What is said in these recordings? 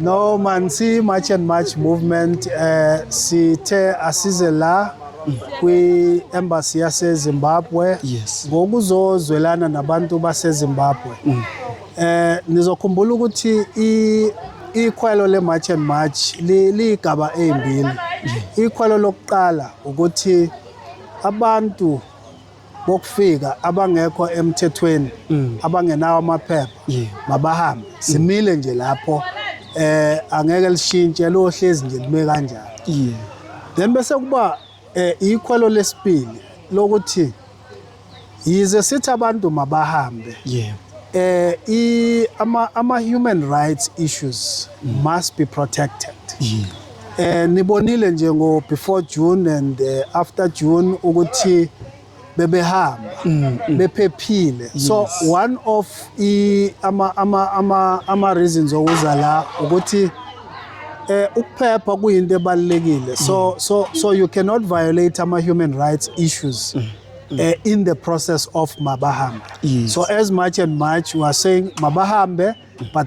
No man si march and march movement eh sithe asize la kwi embassy yase Zimbabwe Yes. ngokuzozwelana nabantu base Zimbabwe. Eh nizokhumbula ukuthi i ikhwelo le march and march li- ligaba ezimbili. Ikhwelo lokuqala ukuthi abantu bokufika abangekho emthethweni mm. abangenawo amaphepha mabahambe mm. simile nje lapho eh angeke lishintshe lohlezi nje lime kanjalo then bese kuba eh ikhwelo lesibili lokuthi yize sithi abantu mabahambe yeah eh i ama ama human rights issues mm. must be protected yeah Eh nibonile nje ngo before June and eh, after June ukuthi bebehamba mm, mm. bephephile so one of i ama ama ama ama reasons okuza la ukuthi eh ukuphepha kuyinto ebalekile so mm. so so you cannot violate ama human rights issues eh, in the process of mabahambe so as much and much we are saying mabahambe but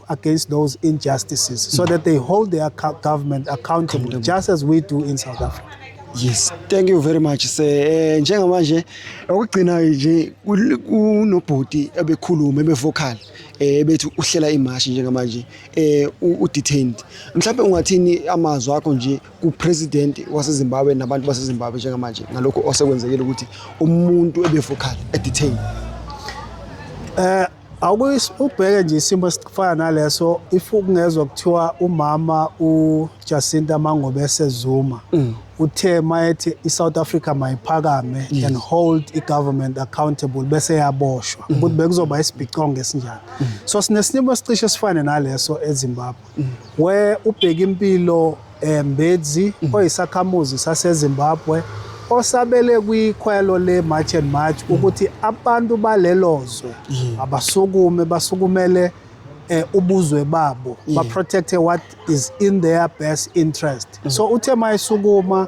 against those injustices so that they hold their government accountable just as we do in South Africa. Yes, thank you very much sir. Eh njengamanje okugcina nje kunobhuti ebekhuluma ebevocal eh bethi uhlela imashi njengamanje eh u detained. Mhlawumbe ungathini amazwi akho nje ku president wase Zimbabwe nabantu base Zimbabwe njengamanje ngalokho osekwenzekile ukuthi umuntu ebevocal e detained. Eh uh, Ubheke nje isimo esifana naleso if kungezwa kuthiwa umama uJacinta Mangobese Zuma mm. uthe mayethi iSouth Africa mayiphakame yes. and hold igovernment accountable bese yaboshwa mm. ukuthi bekuzoba isibhicongo esinjani mm. so sinesinimo esicishe sifane naleso eZimbabwe We uBhekimpilo eh, Mbedzi mm. oyisakhamuzi saseZimbabwe osabele kwikhwelo le March and March mm. ukuthi abantu balelo zwe mm. abasukume basukumele eh, ubuzwe babo ba protect what is in their best interest so uthe mayisukuma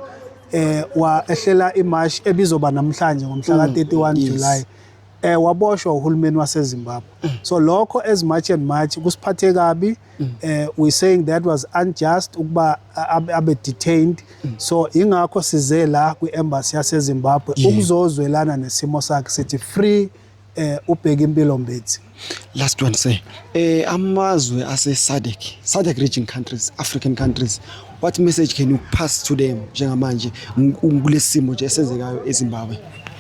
eh wa ehlela imash ebizoba namhlanje ngomhla ka 31 July eh waboshwa uhulumeni waseZimbabwe mm. so lokho as much and much kusiphathe kabi mm. eh we saying that was unjust ukuba abe detained mm. so ingakho size la kwi embassy yaseZimbabwe ukuzozwelana nesimo sakhe sithi free eh ubheka impilo mbethi last one say eh amazwe ase SADC SADC region countries African countries what message can you pass to them njengamanje kulesimo nje esenzekayo eZimbabwe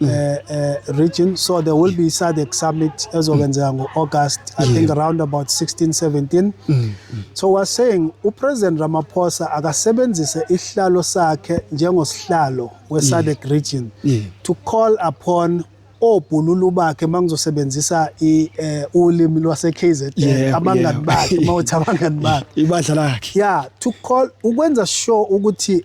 uh, uh, region. So there will be SADC summit ezokwenzeka ngo-August, I think around about 16, 17. So we're saying uPresident Ramaphosa akasebenzise isihlalo sakhe njengosihlalo we-SADC region Yeah. to call upon obhululu bakhe mangizosebenzisa i eh, ulimi lwase KZN Yeah, abangani yeah. bakhe mawuthi abangani bakhe Ibandla lakhe. yeah to call ukwenza sure ukuthi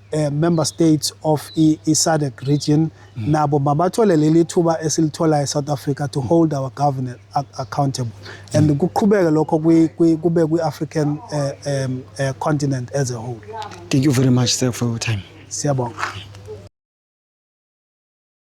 eh, member states of i-SADC region mm. nabo mabathole leli thuba esilithola e-South Africa to hold our government accountable mm. and kuqhubeke lokho kube kwi-African eh, um, eh, continent as a whole. Thank you very much sir for your time. Siyabonga.